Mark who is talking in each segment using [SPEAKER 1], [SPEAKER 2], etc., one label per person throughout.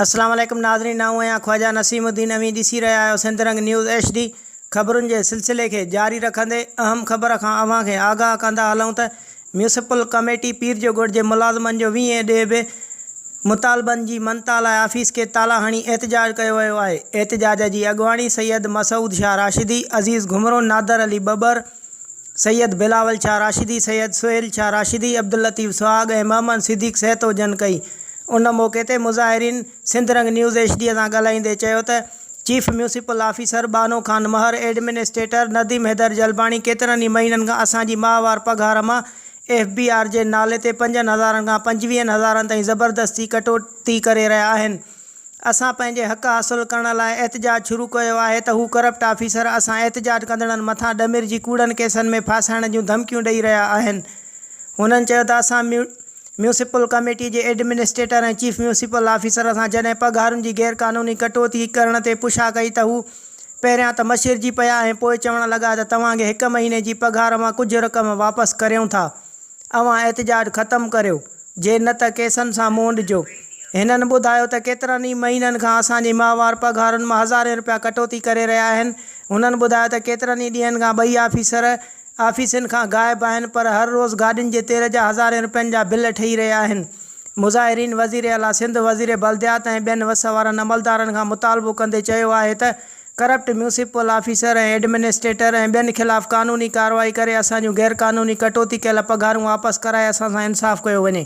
[SPEAKER 1] السلام عليڪم ناظرين آئون آهيان خواجا نسيم الدين اوهين ڏسي رهيا آهيو Sindh Rang news H D خبرن جي سلسلي کي جاري رکندي اهم خبر کان اوهان کي آگاهه ڪندا هلون ته ميونسپل ڪميٽي پير جو ڳڙهه جي ملازمن جو ويهين ڏينهن به مطالبن جي منتها لاء آفيس کي تالا هڻي احتجاج ڪيو ويو آهي احتجاج جي اڳواڻي سيد مسعود شاهه راشدي، عزيز گهمرو، نادر علي ٻٻر، سيد بلاول شاهه راشدي، سيد سهيل شاهه راشدي، عبداللطيف سهاڳ ۽ محمد صديق سهتو جن ڪئي ان موقعي تي مظاهرين. Sindh Rang news H D سان ڳالهائيندي چيو ته chief municipal officer Banho Khan Mehar, administrator Nadeem Haider Jalbani ڪيترن ئي مهينن کان اسان جي ماهوار پگهار مان ايف بي آر جي نالي تي پنجن هزارن کان پنجويهن هزارن تائين زبردستي ڪٽوتي ڪري رهيا آهن اسان پنهنجي حق حاصل ڪرڻ لاء احتجاج شروع ڪيو آهي ته هو ڪرپٽ آفيسر اسان احتجاج ڪندڙن مٿان ڏمرجي ڪوڙن ڪيسن ۾ ڦاسائڻ جون ڌمڪيون ڏئي رهيا آهن هنن چيو ته اسان ميونسپل ڪميٽي جي ايڊمنسٽريٽر ۽ چيف ميونسپل آفيسر سان جڏهن پگهارن جي غير قانوني ڪٽوتي ڪرڻ تي پڇا ڪئي ته هو پهريان ته مشرجي پيا ۽ پوء چوڻ لڳا ته توهان کي هڪ مهيني جي پگهار مان ڪجهه رقم واپس ڪريون ٿا اوهان احتجاج ختم ڪريو جي نه ته ڪيسن سان مونڊجو هنن ٻڌايو ته ڪيترن ئي مهينن کان اسان جي ماهوار پگهارن مان هزارين رپيا ڪٽوتي ڪري رهيا آهن هنن ٻڌايو ته ڪيترن ئي ڏينهن کان ٻئي آفيسر آفيسن کان غائب آهن پر هر روز گاڏين جي تيل جا هزارين رپين جا بل ٺهي رهيا آهن. مظاهرين وزير اعليٰ سنڌ، وزير بلديات ۽ ٻين وس وارن عملدارن کان مطالبو ڪندي چيو آهي ته ڪرپٽ ميونسپل آفيسر ۽ ايڊمنسٽريٽر ۽ ٻين خلاف قانوني ڪارروائي ڪري اسان جون غيرقانوني ڪٽوتي ڪيل پگهارون واپس ڪرائي اسان سان انصاف ڪيو وڃي.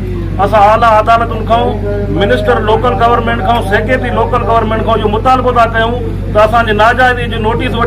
[SPEAKER 2] اسان اعليٰ عدالتن کان، منسٽر لوڪل گورنمينٽ کان، سيڪريٽري لوڪل گورنمينٽ کان اهو مطالبو ٿا ڪيون ته اسان جي ناجائزي جي نوٽيس وٺي